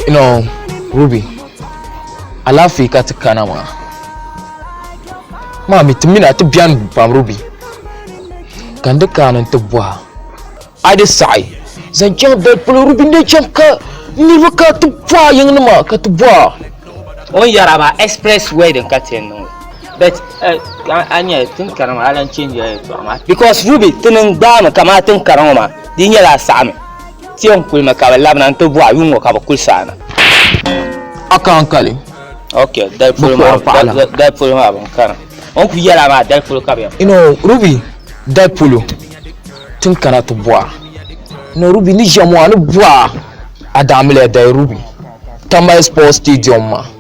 You know, Ruby, alaafee ka ti kana maa. Maa mi ti mina ti biɛni pam Ruby. Ka n di kaani n ti bɔha. A di saɣi zaŋ chaŋ dali polo Ruby n di chaŋ ka niriba ka ti bɔha yiŋ nima ka ti bɔha. O ni yɛra maa express wedding ka ti niŋ. But eh, a nyɛ tin kana maa alan change ya yɛtɔɣa maa. Because Ruby ti niŋ gbaami kamaa tin kana ŋɔ maa di nyɛla a saɣimi. Tiɛhi n-kuli mi ka bɛ labina nti bɔhi yuŋ ŋɔ ka bɛ kuli saana. A ka n kali. Ok, dali polo maa dali polo maa bɛ ni kana. O ni kuli yɛli a maa dali polo ka bɛ yɛn. Ino Ruby dali polo ti ni kana ti bɔhi a. Ino Ruby ni ʒiya maa ni bɔhi a a daa mili ya dali Ruby Tamale Sports Stadium maa.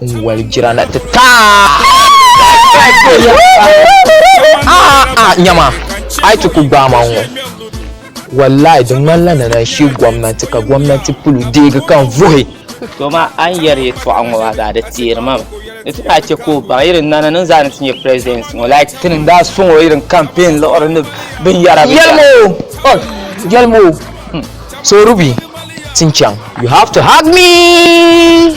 n wali jira na ti ta nyama ai ti ku gbaama ŋɔ wallahi di ŋmanila ni na shi gomnanti ka gomnanti pulu deegi kan vuhi to ma an yɛri yɛtɔɣa ŋɔ maa zaa di teeri ma ni ti daa chɛ ka o baŋ yirin nana ni zaa ni ti nyɛ president ŋɔ like ti ni daa sɔŋ o yirin campaign liɣiri ni binyɛra yɛlimo yɛlimo so rubi tin chaŋ you have to hug me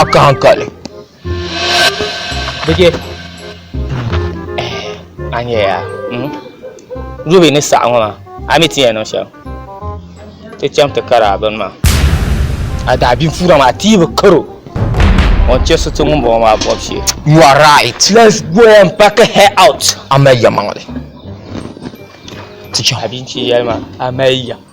a ka hankali bije a nyɛ ya dubi ni saɣa ŋɔ maa a mi ti yɛn niŋ shɛm ti chɛm ti kari a bini maa a daa bin fuura maa ti yi bi karo ŋun chɛ so ti ŋun bɔŋɔ maa bɔb shee you are right let's go and pack her out a mali ya maŋli ti chɛm a bin ti yɛli maa a mali ya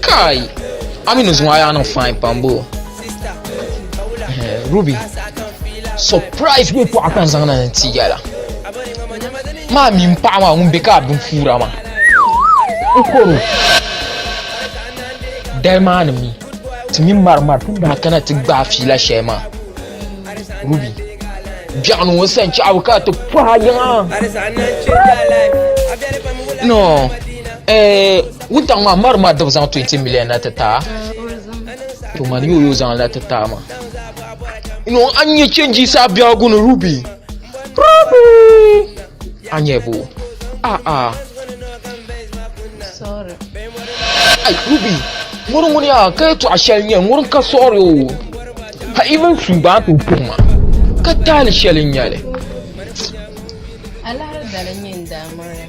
Kai! A mi ni zuŋɔ a yaa niŋ fine pam boo. Ruby, surprise bɛ paɣa kan zaŋ na ni ti yala. Maa mi paɣa maa ŋun bɛ ka a bin fuura maa. N koro. Dali maa ni mi ti mi mari mari ti daa kana ti gbaai fiila shɛli maa. Ruby, biɛɣu ni ŋɔ sani chaɣu ka ti pɔha yiŋa. No, eh, Wuntaŋ maa mari maa dibu zaŋ 20 million na ti taa to mani yo yo zaŋ la ti taa ma yo an nyɛ chenji sa biagu ni ruby ruby an nyɛ bo a a sorry ai ruby ŋuri ŋuni ya ka yi tɔɣa shɛli nyɛ ŋuri ka sɔɣiri o ha even su ba to puhi ma ka taali shɛli nyɛli alahari dali nyɛ n daa mɔri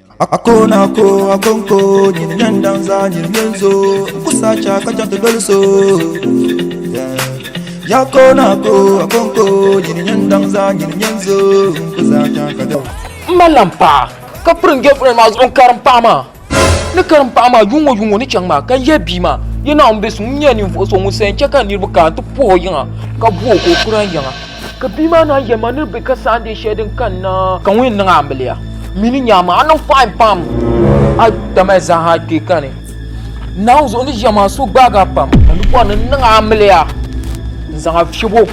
Akona ko akonko nyini nyɛ n danza nyini nyɛ n zo n ku sacha ka chɛŋ ti doli so yakona ko akonko nyini nyɛ n danza nyini nyɛ n zo n ku sacha ka doli n ma lan paɣa ka piri n girlfriend maa zuɣu n karim paɣa maa ni karim paɣa maa yuŋ ŋɔ yuŋ ŋɔ ni chɛŋ maa ka n yɛ bia maa yɛ naawuni bɛ suŋ n nyɛ ninvuɣu so ŋun sayin chɛ ka niriba kana ti puhi o yiŋa ka buhi o ka o kura n yiŋa Ka bia maa naan yɛli ma ni bɛ ka saandiɛ shɛli din kanna. Ka ŋun yɛn niŋ a amiliya mi ni nya maa, a niŋ fine pam. A tamaya zaaha kpe ka ni Naawuni zuɣu ni ʒiya maa, so gbaag a pam. Ka ni bɔri ni n niŋ a amiliya n-zaŋ a fiɛb o.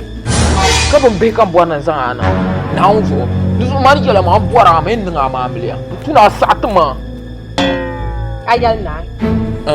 Ka bin bihi ka n bɔri ni n zaŋ a niŋ Naawuni zuɣu. Di zuɣu maa ni yɛla maa, m bɔri a mi ni n niŋ a mi amiliya. N tu ni a saɣiti ma. A yɛli ni a.